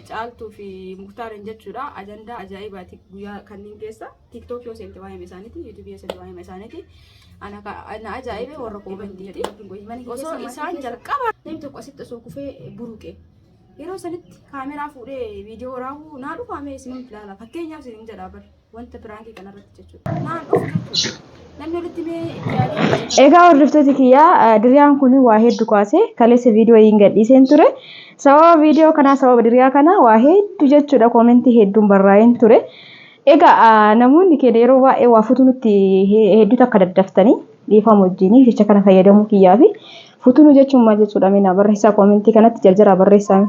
Caaltuu fi Muktaariin jechuudha. Ajandaa ajaa'ibaati guyyaa kanneen keessa. Tiktok yoo seente waa'ee isaaniiti, YouTube yoo seente waa'ee isaaniiti. Ana ka- na ajaa'ibe warra koomentiiti. Osoo isaan jalqaba namni tokko asitti osoo kufee buruqe. Yeroo sanitti kaameraa fuudhee viidiyoo raawwuu naa dhufaamee isin hin ilaala. Fakkeenyaaf isin hin jedhaa bara. wanta biraankii kanarratti jechuudha. Naan dhufu jechuudha. Namni walitti mee yaadee Egaa hordoftoota kiyyaa eh, diriyaan kun waa hedduu kaase kaleessa viidiyoo hin gadhiiseen ture. Sababa viidiyoo kanaa sababa diriyaa kanaa waa hedduu jechuudha koomentii hedduun barraa'een ture. Egaa ah, namoonni keenya yeroo baay'ee waa futuu nutti he- hedduu takka daddaftanii dhiifama wajjiniif jecha kana fayyadamuu kiyyaa fi futuu nu jechuun maal jechuudha mina barreessaa koomentii kanatti jarjaraa barreessaa.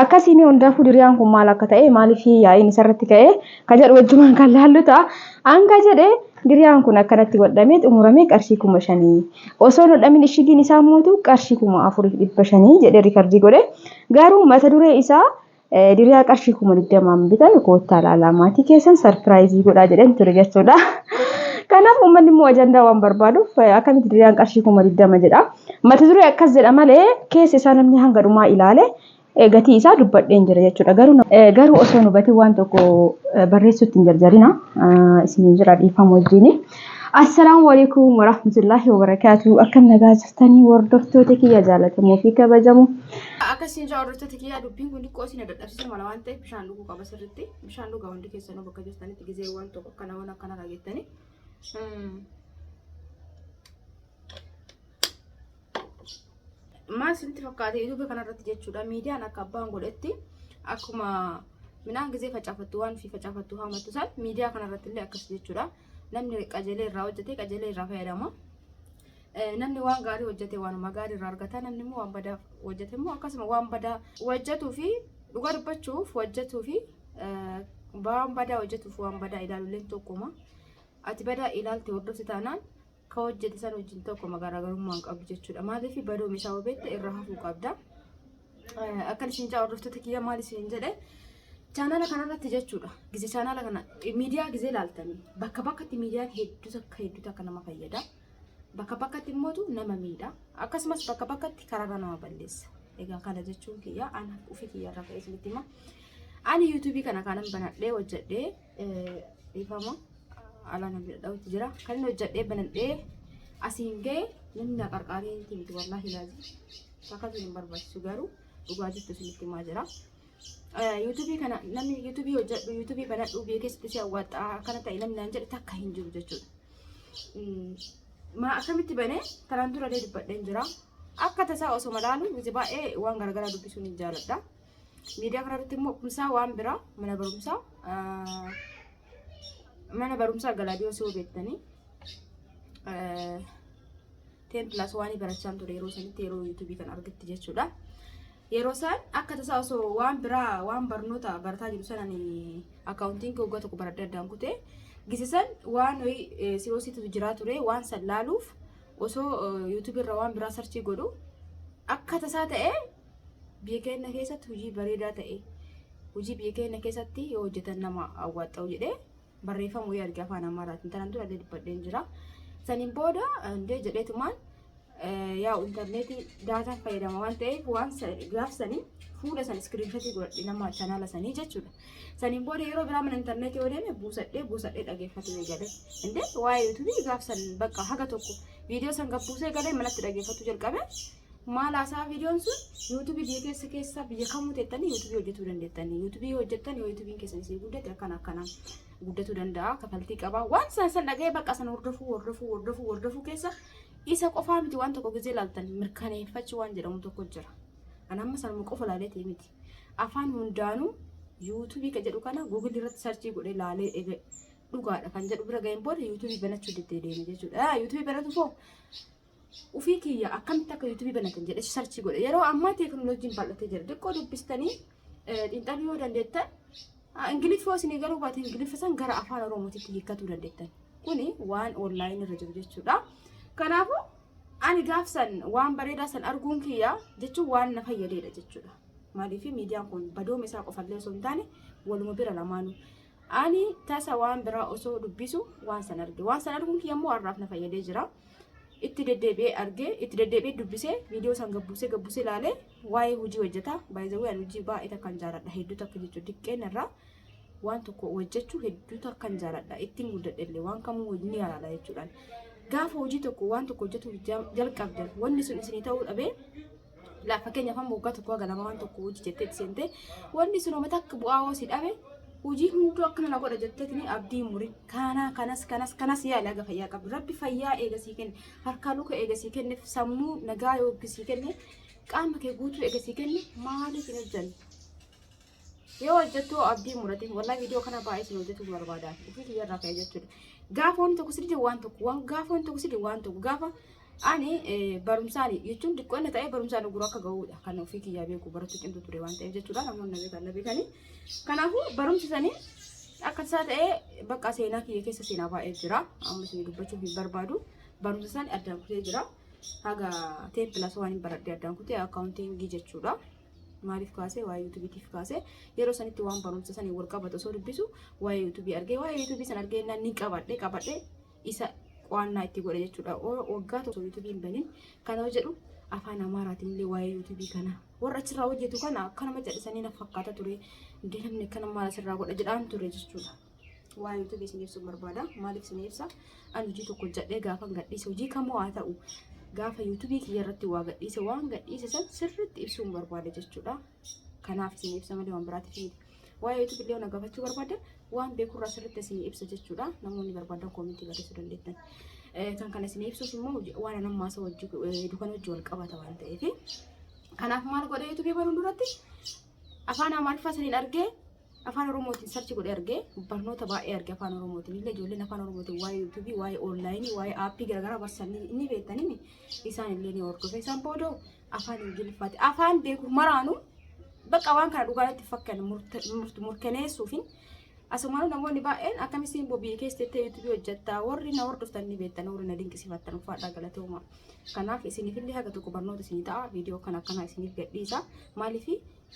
Akkasiin hundaafuu diriyaan kun maal akka ta'e maaliif yaa'iin isarratti ka'e ka jedhu wajjumaan kan laallu ta'a. Hanga jedhe diriyaan kun akkanatti godhamee xumuramee qarshii kuma shanii. Osoo hin hodhamin ishigiin isaa mootu qarshii kuma afuriif dhibba shanii jedhee rikardii godhe. Garuu mata duree isaa diriyaa qarshii kuma digdamaan bitan koottaa laalaa maatii keessan sarpiraayizii godhaa jedhan ture jechuudha. Kanaaf uummanni immoo ajandaa waan barbaaduuf akkamitti diriyaan qarshii kuma digdama jedha. Mata duree akkas jedha malee keessa isaa namni hanga dhumaa ilaale gatii isaa dubbadheen jira jechuudha. Garuu osoo nu gatii waan tokko barreessuutti hin jarjarina isiniin jira dhiifama wajjini. Assalaamu alaikum warahmatullahi wabarakatuh. Akkam nagaa jirtanii hordoftoota kiyya jaalatamoo fi kabajamoo. Akkasiin jaa hordoftoota kiyyaa dubbiin kun xiqqoo isin dadhabsiisa mala waan ta'eef bishaan dhuguu qaba sirriitti. Bishaan dhugaa hundi keessanuu bakka jirtanitti gizee waan tokko akkana waan akkana dhageettanii. maal isinitti fakkaate yuutuubii kanarratti jechuudha miidiyaan akka abbaan godhetti akkuma midhaan gisee facaafattu waan fi facaafattu haamattu san miidiyaa kanarratti illee akkas jechuudha namni qajeelee irraa hojjete qajeelee irraa fayyadama namni waan gaarii hojjete waanuma gaarii irraa argata namni immoo waan badaa hojjete immoo akkasuma waan badaa hojjetuu fi dhugaa dubbachuuf hojjetuu fi waan badaa hojjetuuf waan badaa ilaaluleen tokkuma ati badaa ilaalte hordofte taanaan ka hojjete san wajjin tokkuma garaagarummaa hin qabdu jechuudha. Maaliif badooma isaa hubatte irraa hafuu qabda. Eh, Akkan isin jaa hordoftoota kiyya maal isin jedhe chaanaala kanarratti jechuudha. Gizee chaanaala kana eh, miidiyaa gizee laaltanii bakka bakkatti miidiyaan hedduu takka hedduu takka nama fayyada. Bakka bakkatti immootu nama miidha. Akkasumas bakka bakkatti karaarra nama balleessa. Egaa kana jechuun kiyya ana ofii kiyya irra ka'ee isinitti hima. Ani yuutuubii kana kanan banadhee hojjedhee eh, dhiifama alaa na bira dha'utti jira. Kan inni hojjedhee banadhee asiin ga'e namni na qarqaaree hin timtu wallaahi laazi. Akkasuma hin barbaachisu garuu dhugaa jirtu isinitti himaa jira. Yuutuubii kana namni yuutuubii hojjedhu yuutuubii banadhu beekesitti si awwaaxxaa akkana ta'e namni naan jedhe takka hin jiru jechuudha. Maa akkamitti bane kanaan dura illee dubbadheen jira. Akka tasaa osoo malaalu miti baay'ee waan garaagaraa dubbisuun hin jaaladha. Miidiyaa kanarratti immoo kumsaa waan biraa mana barumsaa mana barumsaa Galaadiyoos yoo beektanii teen pilaas waanii barachaan ture yeroo sanitti yeroo yuutuubii kan argetti jechuudha. Yeroo isaan akka tasaa osoo waan biraa waan barnoota barataa jiru sanan akkaawuntiin kee waggaa tokko baradhee addaan kutee gisisan waan wayii siroosiitu jiraa ture waan san laaluuf osoo yuutuubii irra waan biraa sarchii godhu akka tasaa ta'ee Biyya keenya keessatti hojii bareedaa ta'e hojii biyya keenya keessatti yoo hojjetan nama awwaaxxa'u jedhee barreeffama wayii arge afaan amaaraatiin tanaan dura illee dubbadheen jira. Saniin booda illee jedheetumaan yaa intarneetii daataan fayyadama waan ta'eef waan gaaf sanii fuula san iskiriinshotii godhadhe nama chanaala sanii jechuudha. Saniin booda yeroo biraa mana intarneetii yoo deeme buusadhee buusadhee dhageeffatee eegale. Indee waa'ee yuutuubii gaaf san bakka haga tokko viidiyoo san gabbuusee galee manatti dhageeffachuu jalqabe. maal haasaa viidiyoon sun yuutuubii biyya keessa keessa biyya kamuu teettanii yuutuubii hojjetuu dandeettanii yuutuubii hojjettan yoo yuutuubiin keessan isin guddate akkana akkana guddatuu danda'a kafaltii qabaa waan san san dhaga'ee bakka san hordofuu hordofuu hordofuu hordofuu keessa isa qofaa miti waan tokko gizee laaltan mirkaneeffachuu waan jedhamu tokko jira an amma sanuma qofa laaleetii miti afaan hundaanuu yuutuubii kan jedhu kana guugilii irratti sarchii godhee laalee ege dhugaadha kan jedhu bira ga'een booda yuutuubii banachuu diddee deeme jechuudha yuutuubii banatu foo Ufii kiyya akkamitti akka yuutuubii banatan jedhe sarchii godhe. Yeroo ammaa teekinooloojiin bal'atee jira. Xiqqoo dubbistanii xiinxaluu yoo dandeettan Ingiliffoo isinii garuu baate Ingiliffa san gara afaan Oromootitti hiikkatuu dandeettan. Kuni waan onlaayinii irra jiru jechuudha. Kanaafuu ani gaaf san waan bareedaa san arguun kiyya jechuun waan na fayyadeedha jechuudha. Maaliif miidiyaan kun badooma isaa qofallee osoo hin taane waluma bira lamaanuu. Ani tasa waan biraa osoo dubbisu waan san arge. Waan san arguun kiyya immoo har'aaf na fayyadee jira. Itti deddeebi'ee arge, itti deddeebi'ee dubbisee, viidiyoo san gabbuusee gabbuusee ilaalee waa'ee hojii hojjetaa. Baay'ee ani hojii baay'ee takkan jaaladha. Hedduu takka jechuun xiqqeen irraa waan tokko hojjechuu hedduu takkan jaaladha. Ittiin guddadhe illee waan kamuu hojii ni yaalaala jechuudhaan. Gaafa hojii tokko waan tokko hojjetu jalqabdan wanni sun isinii ta'uu dhabee Laaf fakkeenyaaf amma waggaa tokko haga lama waan tokko hojii jettee seente wanni sun homa takka bu'aa hoo si dhabe hojii hunduu akkana na godha jettee tuni abdii muri kana kanas kanas kanas yaali haga fayyaa qabdu rabbi fayyaa eega sii kenne harkaa luka eega sii kenne sammuu nagaa yoo sii kenne qaama kee guutuu eega sii kenne maaliif hin hojjanne yoo hojjettu abdii murate wallahi viidiyoo kana baay'ee isin hojjetu barbaada ofii kiyya irraa ka'e jechuudha gaafa wanti tokko sirrii waan tokko waan gaafa wanti tokko sirrii waan tokko gaafa ani barumsaan jechuun xiqqoonna ta'ee barumsaan oguruu akka ga'uudha kan ofii kiyyaa beeku barattu cimtu ture waan ta'eef jechuudha namoonni na beekan na beekanii kanaafuu barumsi sanii akka isaa ta'ee bakka seenaa kiyya keessa seenaa baay'ee jira amma isin dubbachuuf hin barbaadu barumsa sanii addaan kutee jira haga teeppilas waan hin baradhee addaan kutee akkaawuntiingii jechuudha. maaliif kaasee waa'ee yuutubiitiif kaasee yeroo sanitti waan barumsa sanii wal qabatu osoo dubbisu waa'ee yuutubii argee waa'ee yuutubii san argee innaan ni qabadhe qabadhe isa qo'annaa itti godhe jechuudha O- waggaa tokko yuutubii hin banin kana yoo jedhu afaan amaaraatiin illee waa'ee yuutubii kana warra achirraa hojjetu kana akkanuma jedhisanii na fakkaata ture hundee namni akkana maal asirraa godha jedhaan ture jechuudha. waa YouTube isin ibsu barbaada. Maaliif isin ibsa? Ani hojii tokko hojjedhee gaafa gadhiise hojii kamuu haa ta'u gaafa YouTube kiyya irratti waa gadhiise waan gadhiise san sirriitti ibsuun barbaada jechuudha. Kanaaf isin ibsa malee waan biraatiif miti. Waa'ee YouTube illee na gaafachuu barbaaddan waan beekurraa sirriitti isin ibsa jechuudha. Namoonni barbaadan koomentii barreessuu dandeettan. Kan kana isin ibsuuf immoo waan anan maasa wajji dukan wajji wal qabata waan ta'eef. Kanaaf maal godha YouTube baruun duratti afaan Amaariffaa saniin argee Afaan Oromootiin sarchi godhee argee barnoota baay'ee arge Afaan Oromootiin illee ijoolleen Afaan Oromootiin waa'ee yuutuubii, waa'ee onlaayinii, waa'ee aappii garaagaraa barsan ni- ni beektanii isaan illee ni hordofe. Isaan booda Afaan Ingiliffaati. Afaan beeku maraanuu bakka waan kana dhugaatti fakkan murkaneessuufin asumaan namoonni baay'een akkamitti bobii keessa jettee yuutuubii hojjettaa warri na hordoftan ni beektan warri na dinqisiifattan uffadhaa galatooma. Kanaaf isiniif illee haga tokko barnoota isinii ta'a viidiyoo kan akkanaa isiniif gadhiisa. Maaliif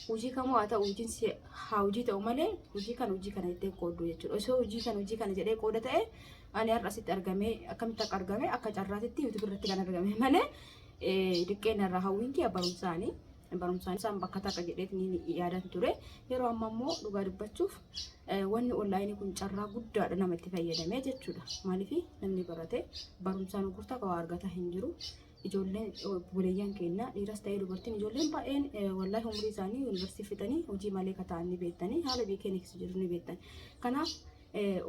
hojii kamuu haa ta'u hojiin si haa hojii ta'u malee hojii kana hojii kana jettee qooddu jechuudha. Osoo hojii kana hojii kana jedhee qooda ta'e ani har'a asitti argamee akkamitti akka argame akka carraatitti yuutuubi irratti kan argame malee diqqeen irraa hawwiin kiyya barumsaanii barumsaan isaan bakka takka jedheet ni yaadan ture. Yeroo amma immoo dhugaa dubbachuuf wanni onlaayinii kun carraa guddaadha namatti fayyadamee jechuudha. Maaliif namni barate barumsaan gurgurtaa waa argata hin jiru. ijoolleen obboleeyyan keenya dhiiras ta'ee dubartiin ijoolleen baay'een wallaahi umurii isaanii yuunivarsiitii fixanii hojii malee akka ta'an ni beektanii haala biyya keenya keessa jiru ni beektan. Kanaaf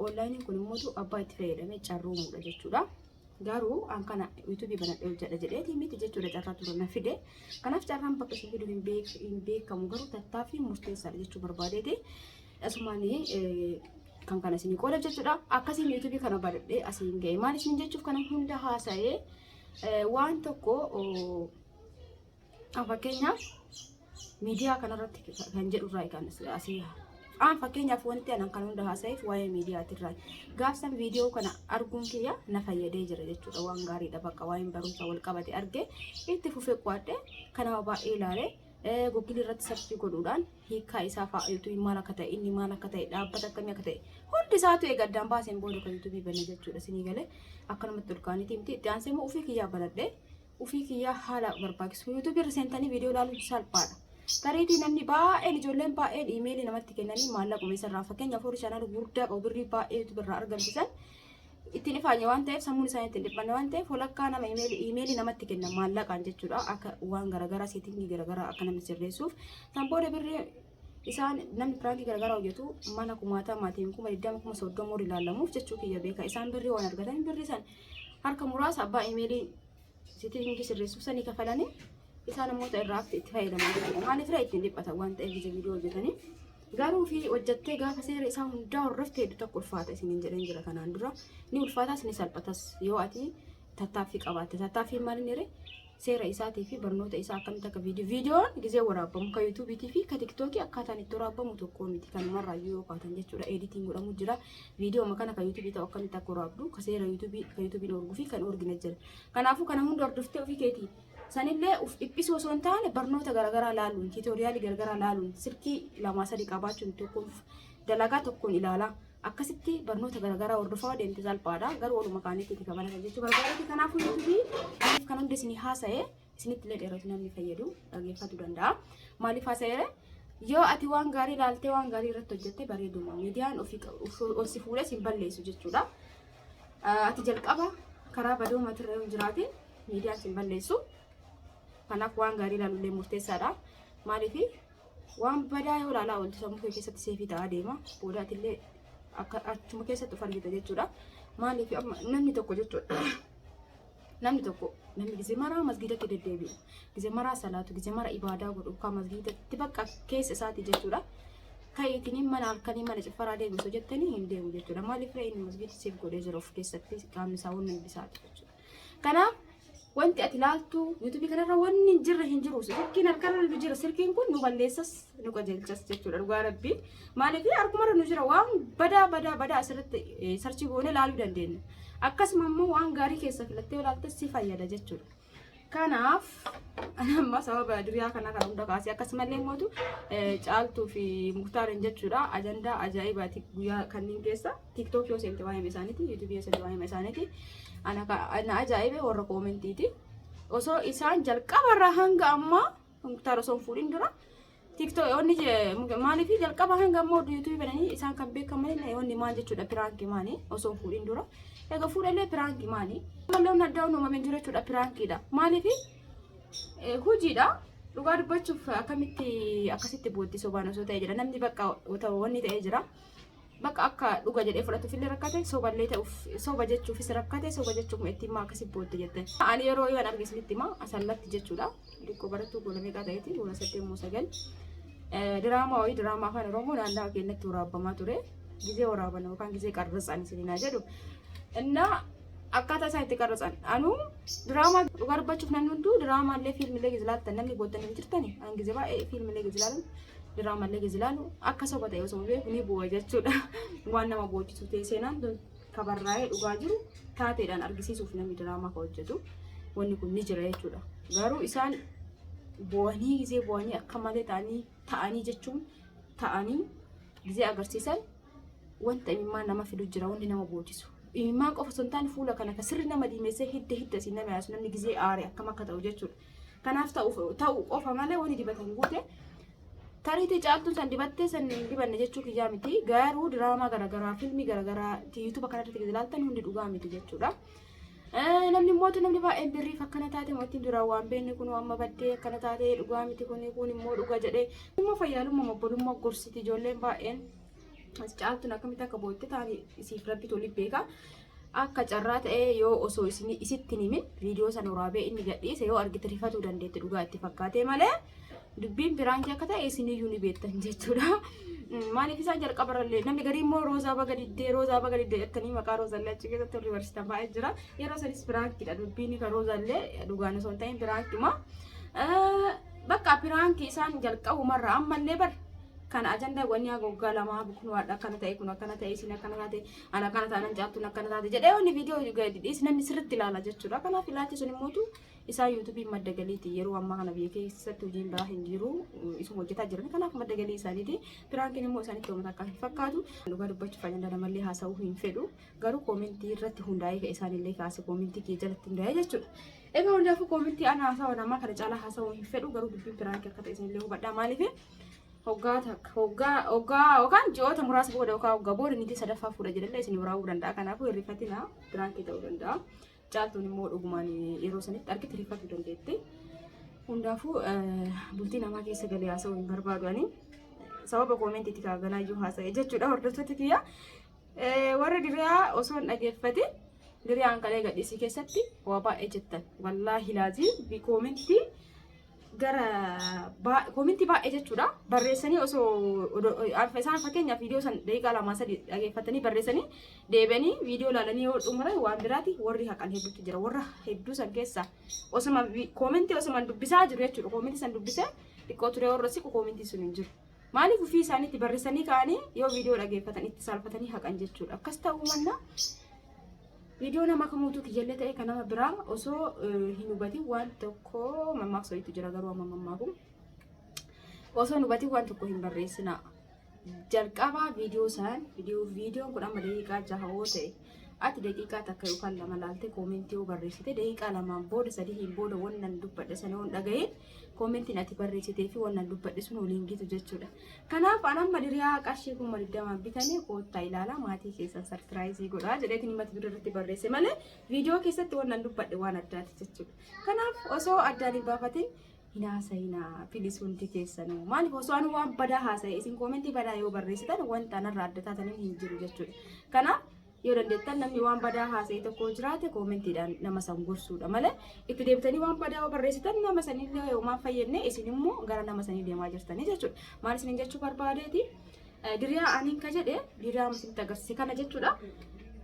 onlaayiniin kun immoo abbaa itti fayyadamee carroomuudha jechuudha. Garuu an kana yuutuubii banadhee hojjedha jedheeti miti jechuudha carraa ture na fide. Kanaaf carraan bakka isin fidu hin beekamu garuu tattaaffii murteessaadha jechuu barbaadeeti. Asumaan kan kana isin qooda jechuudha. Akkasiin yuutuubii kana banadhee asiin ga'e. Maal isin jechuuf kana hunda haasa'ee Waan tokko fakkeenyaaf miidiyaa kanarratti kan jedhu irraa kan asii aan fakkeenyaaf wanti anan kan hunda haasa'eef waa'ee miidiyaati irraa gaafsan viidiyoo kana arguun kiyya na fayyadee jira jechuudha waan gaariidha bakka waa'een barumsa wal qabate argee itti fufee qo'adhe kanaaf baay'ee ilaalee googilii irratti sarchii godhuudhaan hiikaa isaa fa'aa yuutuubiin maal akka ta'e inni maal akka ta'e dhaabbata akkamii akka ta'e hundi isaatu eega addaan baaseen booda kan yuutuubii banne jechuudha sinii galee akkanumatti ol kaaniitii miti itti aansee immoo ofii kiyyaa banadhe ofii kiyyaa haala barbaachisu yuutuubii irra seentanii viidiyoo ilaaluun salphaadha. Tariitii namni baay'een ijoolleen baay'een iimeelii namatti kennanii maallaqa meeshaa irraa fakkeenyaaf horii shaanaa gurguddaa qabu birrii baay'ee yuutuubii irraa argamsiisan ittiin ifaanye waan ta'eef sammuun isaanii ittiin dhiphanne waan ta'eef walakkaa nama imeelii namatti kenna maallaqaan jechuudha akka waan garaagaraa seetingii garaagaraa akka namni sirreessuuf san booda birrii isaan namni piraankii garaagaraa hojjetu mana kumaataa maatiin kuma digdama kuma soddoma warri ilaalamuuf jechuu kiyya beeka isaan birrii waan argatan birrii san harka muraasa abbaa imeelii seetingii sirreessuuf sanii kafalanii isaan immoo irraa itti fayyadamu maaliif irraa ittiin dhiphatan waan ta'eef viidiyoo hojjetanii Garuu fi hojjattee gaafa seera isaa hundaa hordofte hedduu takka ulfaata isiniin jedhan jira kanaan dura. Ni ulfaatas ni salphatas yoo ati tattaaffii qabaatte. Tattaaffii maaliin hiree? Seera isaatii fi barnoota isaa akkamitti akka viidiyoo. Viidiyoon gizee waraabbamu ka yuutuubiitii fi ka tiktookii akkaataan itti waraabbamu tokkoo miti. Kanumarraa iyyuu yoo kaatan jechuudha editiin godhamu jira. Viidiyoo amma kana ka yuutuubii ta'u akkamitti akka waraabdu ka seera yuutuubii ka yuutuubiin orguu fi kan orgina jira. Kanaafuu kana hunda hordoftee ofii keetii Sanillee uf dhiphisuu osoo hin taane barnoota garaagaraa laaluun, tiitooriyaalii garaagaraa laaluun, silkii lamaa sadii qabaachuun tokkoon dalagaa tokkoon ilaalaa. Akkasitti barnoota garaagaraa hordofaa yoo deemte salphaadha. Garuu oluma kaanitti itti kabalatan jechuu barbaadatti. Kanaafuu yuutuubii aniif kan hunda isinii haasa'e isinitti illee dheeratu namni fayyadu dhageeffatu danda'a. Maaliif haasa'eere? Yoo ati waan gaarii ilaaltee waan gaarii irratti hojjette bareeduma. Miidiyaan ofii ol si fuudhee si hin balleessu jechuudha. Ati jalqaba karaa badoo matirra yoo hin jiraatin miidiyaa isin balleessu. Kanaaf waan gaarii ilaaluullee murteessaadha. Maaliif waan badaa yoo ilaalaa ooltu sammuu kee keessatti seefii ta'aa deema. Boodaatillee akka achuma keessatti of argita jechuudha. Maaliif amma namni tokko jechuudha. Namni tokko namni gizee maraa masgiidatti deddeebi'u, gizee maraa salaatu, gizee maraa ibaadaa godhu, kan masgiidatti bakka keessa isaati jechuudha. Ka'iitiin mana halkanii mana ciffaraa deebisu jettanii hin deemu jechuudha. Maaliif inni masgiidatti siif godhee jira of keessatti qaamni isaa waan nambisaati jechuudha. Kanaaf wanti ati laaltu yuutuubii kanarra wanni hin jirre hin jiru sirkiin harkarra nu jira sirkiin kun nu balleessas nu qajeelchas jechuudha dhugaa rabbii maaliif harkumarra nu jira waan badaa badaa badaa asirratti sarchii goonee laaluu dandeenya akkasuma immoo waan gaarii keessa filattee olaaltee si fayyada jechuudha. Kanaaf amma sababa duriyaa kana kan hunda kaasee akkasumallee mootu caaltuu fi muktaariin jechuudha ajandaa ajaa'ibaati guyyaa kanneen keessa. TikTok yoo seente waa'ima isaaniiti, YouTube yoo seente waa'ima isaaniiti. Ana ka- na ajaa'ibe warra koomentiiti. Osoo isaan jalqaba irraa hanga ammaa muktaar osoo hin fuudhin dura TikTok onni maaliif jalqaba hanga ammaa oduu YouTube bananii isaan kan beekaman onni maal jechuudha piraanki maali osoo hin fuudhin dura. Egaa fuudhallee piraanki maali? Mallee onni addaa uumame hin jiru jechuudha piraankiidha. Maaliif hojiidha. Dhugaa dubbachuuf akkamitti akkasitti booddee sobaan osoo ta'e jira namni bakka wanni ta'ee jira. Bakka akka dhuga jedhee fudhatuuf illee rakkate soballee ta'uuf soba jechuufis rakkate soba jechuuf itti himaa akkasii bootte jette. Ani yeroo ivan arge isinitti himaa asallatti jechuudha. Dikkoo barattuu goona meeqaa ta'eeti goona saddeet moo sagal. Diraamaa wayii diraamaa afaan oromoo naannawaa keenyatti waraabamaa ture. Gizee waraaban yookaan gizee qarrasaan isinii jedhu. Innaa akkaataa isaan itti qarrasan anuu diraamaa dhugaa dubbachuuf namni hunduu diraamaa illee fiilmilee gizilaaltan namni booddan hin jirtani an gizee baay'ee fiilmilee gizilaalan. Diraamallee keessa ilaalu akka soba ta'e osoo beeku ni bu'a jechuudha. Waan nama boochisu ta'e seenaan tun kabarraa'ee dhugaa jiru taateedhaan argisiisuuf namni diraamaa kan hojjetu wanni kun ni jira jechuudha. Garuu isaan bu'anii gisee bu'anii akka malee ta'anii ta'anii jechuun ta'anii gisee agarsiisan wanta imimmaan nama fidu jira wanni nama boochisu. Imimmaan qofa osoo hin taane fuula kana kan sirri nama diimessee hidda hidda siin nama yaasu namni gisee aare akkam akka ta'u jechuudha. Kanaaf ta'u qofa malee wani dibatan guute tariitii caaltuun san dibattee san hin dibanne jechuu kiyyaa miti garuu diraamaa garaagaraa filmii garaagaraa yuutuuba kanarratti gadi ilaaltan hundi dhugaa miti jechuudha. Namni immoo namni baay'een birriif akkana taate mootiin duraan waan beekne kun amma baddee akkana taate dhugaa miti kun kun immoo dhuga jedhee immoo fayyaalummaa obbolummaa gorsiti ijoolleen baay'een as caaltuun akkamitti akka bootte taate isiif rabbi tolii beeka. Akka carraa ta'ee yoo osoo isin isitti hin himin viidiyoo sana waraabee inni gadhiise yoo argite rifatuu dandeetti dhugaa itti fakkaatee malee dubbiin piraankii akka ta'e isin iyyuu ni beektan jechuudha. Mm, Maaliif isaan jalqaba irrallee namni garii immoo roozaa baga diddee roozaa baga diddee jettanii maqaa roozaallee achi keessatti warri barsiisan baay'ee jira. Yeroo sanis piraankiidha dubbiin kan roozaallee dhugaan osoo hin ta'in piraankiidhuma. Eh, Bakka piraanki isaan jalqabumarraa ammallee bar Kana ajanda wanni haga waggaa lamaa kun waan akkana ta'e kun akkana ta'e isin akkana taate an akkana taanan caaltuun akkana taate jedhee wanni viidiyoo gadi dhiis namni sirriitti ilaala jechuudha. Kanaaf ilaalchi sun immootu isaa yuutuubiin madda galiiti yeroo ammaa kana biyya keessatti hojiin biraa hin jiru isuma hojjetaa jiran kanaaf madda galii isaaniiti. Piraankiin immoo isaanitti uummata akka hin fakkaatu dhugaa dubbachuuf ajanda namallee haasa'uu hin fedhu garuu koomentii irratti hundaa'ee ka'e isaanillee kaase koomentii kee jalatti hundaa'ee jechuudha. Egaa hundaafuu koomentii ana haasawaa namaa kana caalaa haasawuu hin fedhu garuu dubbiin piraanki akka ta'e isinillee hubadhaa maaliif Hoggaa takka hoggaa hoggaa yookaan ji'oota muraasa booda yookaan hoggaa booda niitii sadaffaa fuudha jedhallee isin biraa'uu danda'a. Kanaafuu hin rifatinaa biraankii ta'uu danda'a. Caaltuun immoo dhugumaan yeroo sanitti argite rifatuu dandeetti. Hundaafuu bultii namaa keessa galee haasa'uu hin barbaadu ani. Sababa koomentiitti kaa ganaayyuu haasa'e jechuudha hordoftoota kiyya. Warri diriyaa osoo hin dhageeffate diriyaan kalee gadhiisii keessatti waa baay'ee jettan. Wallaahi laazii koomentii gara koominti baay'ee jechuudha barreessanii osoo isaan fakkeenyaaf viidiyoo san daqiiqaa lamaa sadii dhageeffatanii barreessanii deebi'anii viidiyoo ilaalanii yoo xumuran waan biraati warri haqan hedduutu jira warra hedduu san keessa osuma koominti osuma dubbisaa jiru jechuudha koominti san dubbisee xiqqoo turee warra siqu koominti sun hin jiru. Maaliif ofii isaaniitti barreessanii ka'anii yoo viidiyoo dhageeffatan itti saalfatanii haqan jechuudha akkas ta'uu mannaa Viidiyoo nama kamuutu kiyyallee ta'e kan nama biraa osoo hin hubatin waan tokko mammaaksa wayiitu jira garuu amma mammaaku. Osoo hin hubatin waan tokko hin barreessinaa. Jalqabaa viidiyoo san viidiyoo viidiyoon kun amma daqiiqaa jaha yoo ta'e ati daqiiqaa takka yookaan lama laaltee koomentii yoo barreessite daqiiqaa lamaan booda sadihiin booda wannan dubbadhe sana yoo hin dhaga'in Koomentiin ati barreessitee fi wannan dubbadhe sun waliin gitu jechuudha. Kanaaf an amma diriyaa qarshii kuma digdamaan bitanii koottaa ilaalaa maatii keessan sarpiraayizii godhaa jedheetiin mata duree irratti barreesse malee viidiyoo keessatti wannan dubbadhe waan addaati jechuudha. Kanaaf osoo addaan hin baafatin hin haasa'inaa pilis hundi keessanuu maaliif osoo an waan badaa haasa'e isin koomentii badaa yoo barreessitan wanta anarraa adda taataniin hin jiru jechuudha. Kanaaf Yoo dandeettan namni waan badaa haasa'e tokko jiraate koomentiidhaan nama san gorsuudha malee itti deebitanii waan badaa yoo barreessitan nama sanillee yoo maaf fayyadne isin immoo gara nama sanii deemaa jirtanii jechuudha. Maal isin jechuu barbaadeeti? Diriyaa aniin ka jedhe diriyaa isinitti agarsiise kana jechuudha.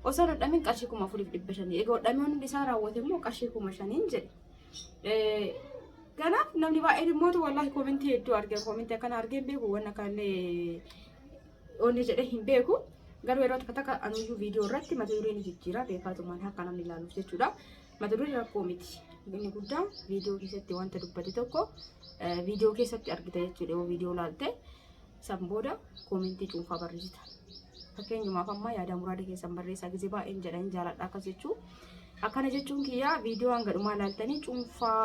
Osoo hin hodhamin qarshii kuma afuriif dhibba shanii. Egaa hodhamee hundi isaa raawwate immoo qarshii kuma shaniin jedhe. Kanaaf namni baay'een immoo wallaahi koomentii hedduu arge koomentii akkana argeen beeku waan akkanallee Oonne jedhee hin beeku. Garuu yeroo takka takka anuyyuu viidiyoo irratti mata duree ni jijjiira beekaatumaan akka namni ilaaluuf jechuudha. Mata duree rakkoo miti. Inni guddaa viidiyoo keessatti wanta dubbate tokko eh, viidiyoo keessatti argita jechuudha yoo viidiyoo ilaalte san booda koomentii cuunfaa barreessita. Fakkeenyumaaf amma yaadaa muraada keessan barreessaa gisee baay'een jedha hin jaaladha akkas jechuu. Akkana jechuun kiyyaa viidiyoo hanga dhumaa ilaaltanii cuunfaa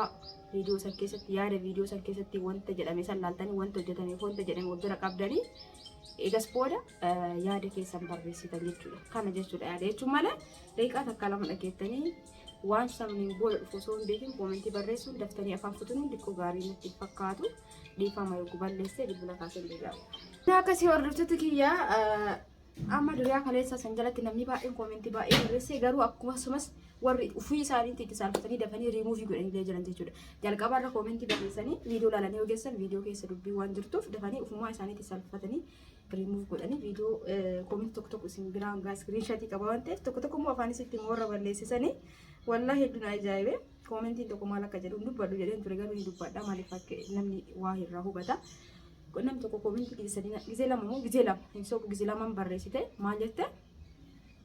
Viidiyoo san keessatti yaada viidiyoo san keessatti wanta jedhame san laaltanii wanta hojjetame fi wanta jedhame wal bira qabdanii egas booda eh, yaada keessan barreessitan jechuudha. Kana jechuudha yaada jechuun malee daqiiqaa takka lama dhageettanii waan sabniin booda dhufu osoo hin beekin koomentii barreessuun daftanii afaan kutuun diqqoo gaarii natti hin fakkaatu dhiifama yoo balleessee bilbila kaasee hin deebi'amu. Akkasii hordoftoota kiyyaa eh, Amma duriyaa kaleessaa san jalatti namni baay'een koomentii baay'ee barreessee garuu akkasumas warri ofii isaaniitti itti saalfatanii dafanii riimuuvii godhanii jiran jechuudha. Jalqaba irra koomentii barreessanii viidiyoo laalanii ogeessan viidiyoo keessa dubbii waan jirtuuf dafanii ofumaa isaaniitti saalfatanii riimuuv godhanii viidiyoo koomentii tokko tokko isin biraan gaa iskiriinshaatii qaba waan ta'eef tokko tokko immoo afaan isitti immoo warra balleessisanii wallaahi hedduun ajaa'ibee koomentiin tokko maal akka jedhu hin dubbadhu jedheen ture garuu hin dubbadha maaliif akka namni waa irraa hubata. Namni tokko koominti gizee sadii na- gizee lama moo gizee lama hin sobu gizee lamaan barreessite maal jette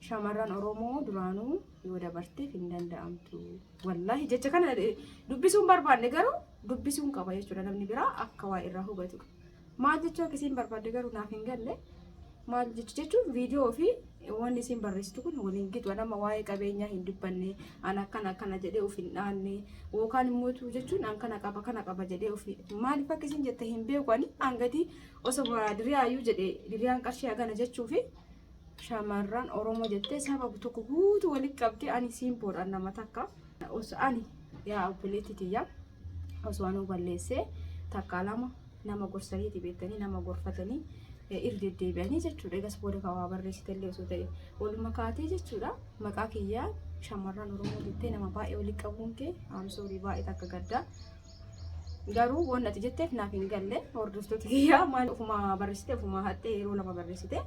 shamarran Oromoo duraanuu yoo dabarteef hin danda'amtu. Wallaahi jecha kana eh, dubbisuun barbaanne garuu dubbisuun qaba jechuudha namni biraa akka waa irraa hubatu. Maal jechuu akkasiin barbaadde garuu naaf hin galle. maal jechu jechuun viidiyoo fi wanni isin barreessitu kun waliin gitu nama waa'ee qabeenyaa hin dubbanne an akkana akkana jedhee of hin dhaanne yookaan immoo tu jechuun an kana qaba kana qaba jedhee of maaliif akka isin jette hin beeku ani an gadi osoo boraa diriyaayyuu jedhe diriyaan qarshii hagana jechuu fi shamarran oromoo jettee saba tokko guutuu walitti qabdee ani siin boodhaan nama takka osoo ani yaa obboleetti tiyyaa osoo anuu balleessee takkaa lama nama gorsaniiti beektanii nama gorfatanii irra deddeebi'anii jechuudha. Egas booda kan waa barreessitellee osoo ta'e waluma kaatee jechuudha. Maqaa kiyyaa shamarran Oromoo jettee nama baay'ee waliin qabuun kee amsoorii baay'ee takka gaddaa. Garuu waan ati jetteef naaf hin galle hordoftoota kiyyaa maal ofuma barreessite ofuma hattee yeroo lama barreessite.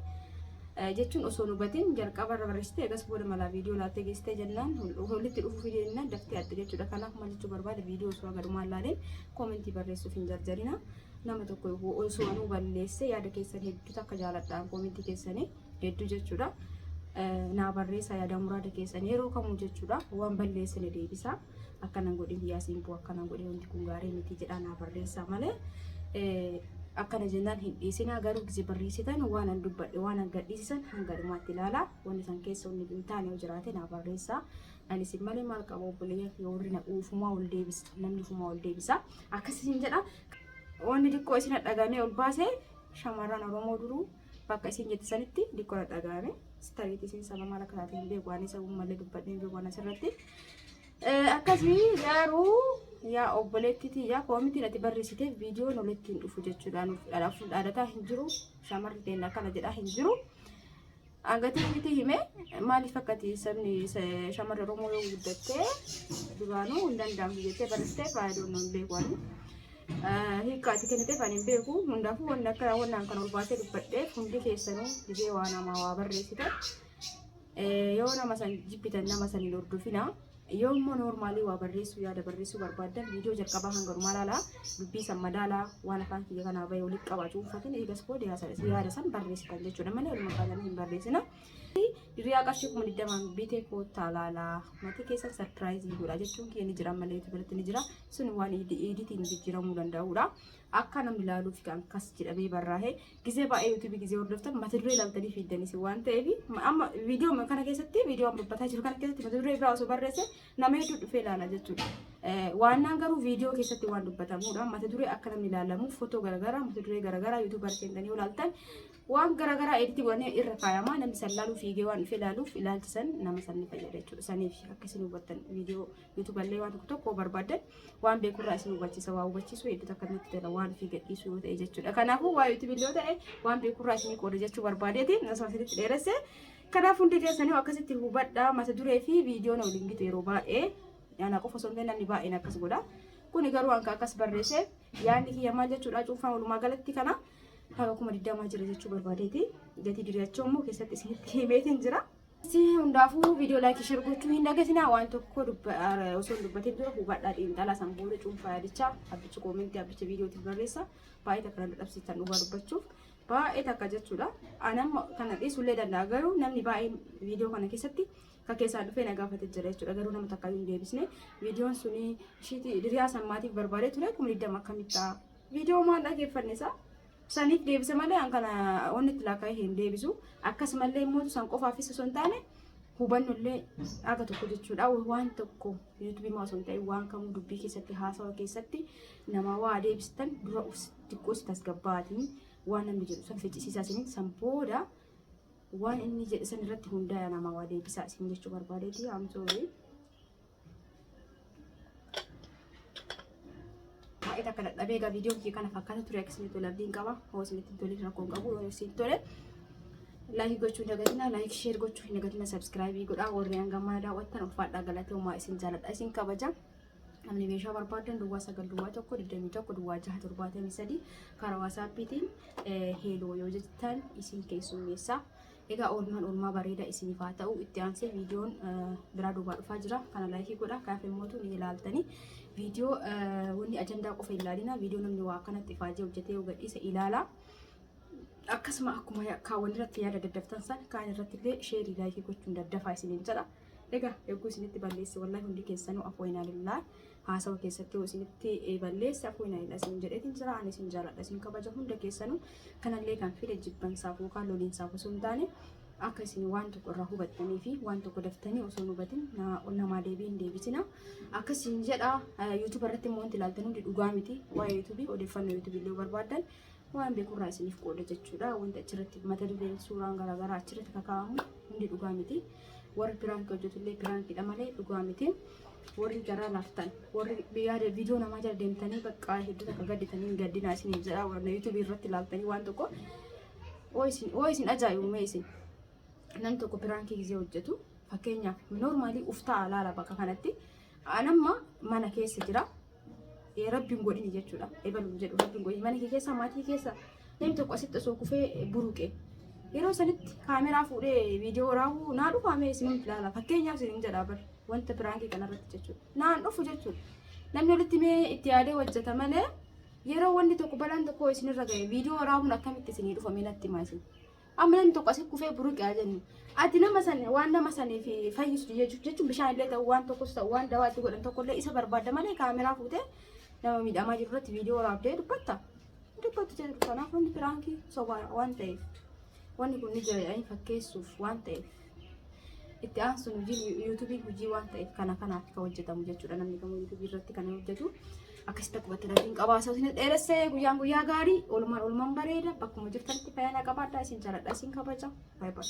jechuun osoo hubatiin jalqaba irra barreessite egas booda malaa viidiyoo laattee geessite jennaan walitti dhufuuf jennaan daftee atte jechuudha. Kanaaf maal jechuu barbaade viidiyoo osoo agarmaan laaleen koomentii barreessuuf hin jarjarina. Nama tokko osoo anuu balleesse yaada keessan hedduu takka jaaladhaan koomentii keessanii hedduu jechuudha. Naa barreessa yaada muraada keessan yeroo kamuu jechuudha. Waan balleessine deebisa. Akkanan godhin yaasiin boo akkanan godhin wanti kun gaarii miti jedhaa naa barreessa malee. Akkana jennaan hin dhiisinaa garuu gisee barreessitan waan an dubbadhe waan an gadhiisisan hanga dhumaatti ilaalaa wanti san keessa wanni hin taane yoo jiraate naa barreessa. Ani sin malee maal qaba obboleeyyan kiyya warri na uufumaa ol deebisa namni ufumaa ol deebisa akkasii sin jedha wanni xiqqoo isin dhagaamee ol baase shamarran oromoo duruu bakka isin jette sanitti xiqqoo na dhagaame sitariitii isin saba maal akka taate hin beeku waan isa uummallee dubbadhee hin beeku waan asirratti akkasii garuu yaa obboleetti tiyya koomitiin ati barreessite viidiyoon walitti hin dhufu jechuudhaan dhaadhataa hin jiru shamarri keenya akkana jedhaa hin jiru. Angatii miti hime maaliif akkati sabni shamarra Oromoo yoo guddattee duraanuu hin danda'amu jettee barattee faayidoon hin beeku ani. Hiika ati kenniteef ani hin beeku hundaafuu wanni akka wannaan kan ol baasee dubbadheef hundi keessanuu dibee waa namaa waa barreessitan yoo nama san jibbitan nama san hin hordofina. Yoo immoo noormaalii waa barreessuu yaada barreessuu barbaaddan viidiyoo jalqabaa hanga dhumaa ilaalaa dubbii san madaalaa waan afaan kiyya kanaa bahee walitti qabaa cuunfatiin eegas booda yaada san barreessitan jechuudha malee walumaa galanii hin barreessina. Diriyaa qarshii kuma digdamaan bitee koottaa laalaa maatii keessan sarpiraayizii godha jechuun kee ni jira malee itti biratti ni jira sun waan iiditiin jijjiiramuu danda'udha. Akka namni ilaaluuf kan kas jedhamee barraa'e Gizee baay'ee yuutuubii gizee hordoftan mata duree ilaaltanii fiiddan isin waan ta'eef amma viidiyoo kana keessatti viidiyoo amma dubbataa jiru kana keessatti mata duree biraa osoo barreesse nama hedduu dhufee ilaala jechuudha. Waannaan garuu viidiyoo keessatti waan dubbatamuudha. Mata duree akka namni ilaalamu footoo garaagaraa mata duree garaagaraa yuutuubar seentanii yoo ilaaltan waan garaagaraa editti godhanii irra kaayama namni san ilaaluu fiigee waan dhufee ilaaluuf ilaalchisan nama san ni fayyada jechuudha. Saniif akka isin hubattan viidiyoo Yuutuballee waan tokko tokko barbaaddan waan beekurraa isin hubachiisa waa hubachiisuu hedduu takka nutti tola waan ofii gadhiisuu yoo ta'e jechuudha. Kanaafuu waa yuutubillee yoo ta'e waan beekurraa isin qooda jechuu barbaadeeti osoo asitti dheeresse. Kanaaf hundi keessanii akkasitti hubadhaa mata duree fi viidiyoon waliin gitu yeroo baay'ee yaana qofa osoo hin taane namni baay'een akkas godha. Kuni garuu hanga akkas barreesse yaanni kiyya maal jechuudha cuunfaan walumaa galatti kana haga kuma digdamaa jira jechuu barbaadeeti. Gatii diriirachuu immoo keessatti isinitti himeetiin jira. Hundaafuu viidiyoo laayikii share gochuu hin dagatinaa waan tokko osoo hin dubbatin dura hubadhaa xiinxalaa san booda cuunfaa yaadichaa abbichi koomentii abbichi viidiyootiif barreessa baay'ee takka nan dadhabsiisan dhugaa dubbachuuf baay'ee takka jechuudha. Anamma kana dhiisullee danda'a garuu namni baay'een viidiyoo kana keessatti akka keessaan dhufee na gaafate jira jechuudha garuu nama takka hin deebisne viidiyoon suni ishiiti diriyaa sammaatiif barbaadee ture kuma digdama akkamitti ta'a viidiyoo maal dhaggeeffanne isaa Saniif deebise malee an kana wanni itti laakkaa'ee hin deebisu. Akkasumallee immoo san qofaafis osoo hin taane hubannollee aga tokko jechuudha. Waan tokko yuutuubii maa osoo hin ta'in waan kamuu dubbii keessatti haasawa keessatti nama waa deebistan dura us xiqqoo si tasgabbaatiin waan namni jedhu san ficcisiisaa isiniin san booda waan inni jedhe san irratti hundaa'e nama waa deebisaa isin jechuu barbaadeeti. I'm sorry. baay'ee takka dadhabee egaa viidiyoon kee kana fakkaata ture akka isinitti tole abdiin qaba hoo isinitti tole rakkoon qabu yoo isinitti tole laayik gochuu hin dagatina laayik sheer gochuu hin dagatina sabskraayibii godhaa warri hangamaa daawwattan ulfaadhaa galatoomaa isin jaaladha isin kabaja namni meeshaa barbaadan duwwaa sagal duwwaa tokko digdamii tokko duwwaa jaha torbaatamii sadii karaa waasaappiitiin heeloo yoo jettan isin keessummeessaa Egaa oolmaan oolmaa bareedaa isiniif haa ta'u. Itti aansee viidiyoon biraa duubaa dhufaa jira. Kana laayikii godha. Kaaf immootu ni ilaaltanii. Viidiyoo wanni ajandaa qofa ilaalina. Viidiyoo namni waa akkanatti ifaajee hojjetee yoo gadhiise ilaala. Akkasuma akkuma kaawwan irratti yaada daddaftan san kaan irratti illee sheerii laayikii gochuun daddafaa isiniin jedha. Egaa eeguu isinitti balleessi wallahi hundi keessanuu afoo inaa lillaa. haasawa keessatti isinitti balleesse akkuma inni hidha isin jedheetiin jira ani isin jaaladha isin kabaja hunda keessanuu kanallee kan fide jibbansaaf yookaan loliinsaaf osoo hin taane akka isin waan tokko irraa hubattanii fi waan tokko daftanii osoo hin hubatin namaa deebii hin deebisina akkas isin jedha yuutuuba irratti immoo wanti ilaaltan hundi dhugaa miti waa'ee yuutuubii odeeffannoo yuutuubii illee barbaaddan waan beekurraa isiniif qooda jechuudha. Wanti achirratti mata dureen suuraan garaagaraa achirratti kakaa'amu hundi dhugaa miti. Warri piraankii hojjetullee piraankiidha malee dhugaa miti. Warri garaa laaftan, warri yaada viidiyoo namaa jala deemtanii bakka hedduu takka gadditanii gaddinaa isiniif jedha. Warra yuutuubii irratti ilaaltanii waan tokko oo isin oo isin ajaa'ibume isin. Namni tokko piraankii gisee hojjetu fakkeenyaaf noormaalii uftaa alaala bakka kanatti. Anamma mana keessa jira. Eh, Rabbi hin godhini jechuudha. Ebalu hin jedhu Rabbi hin godhini. Mana kee keessa maatii keessa namni tokko asitti osoo kufee eh, buruqe. Yeroo sanitti kaameraa fuudhee viidiyoo raawwu naa dhufa mee isinum ilaala. Fakkeenyaaf isin jedha bar wanta biraankii kanarratti jechuudha. Naan dhufu jechuudha. Namni walitti mee itti yaadee hojjeta malee yeroo wanni tokko balaan tokko isinirra ga'e viidiyoo raawwuun akkamitti isinii dhufa mee natti himaa isin. amma namni tokko asii kufee buruqe haa jennu ati nama san waan nama saniif fayyistu jechuuf jechuun bishaan illee ta'u waan tokkos ta'u waan dawaa itti godhan tokko illee isa barbaadda malee kaameraa fuutee nama miidhamaa jiru irratti viidiyoo waraabdee dubbatta dubbattu jedhu kanaaf wanti piraankii sobaa waan ta'eef wanni kun ni jira jedhanii fakkeessuuf waan ta'eef. itti aansuun hojiin yuutuubii hojii waan ta'eef kana kanaaf kan hojjetamu jechuudha namni kamuu yuutuubii irratti kan hojjetu akkasitti akkubatti rabbiin qabaasa isin dheeressee guyyaan guyyaa gaarii oolmaan oolmaan bareeda bakkuma jirtanitti fayyaa qabaadhaa isin jaaladha isin kabaja baay'ee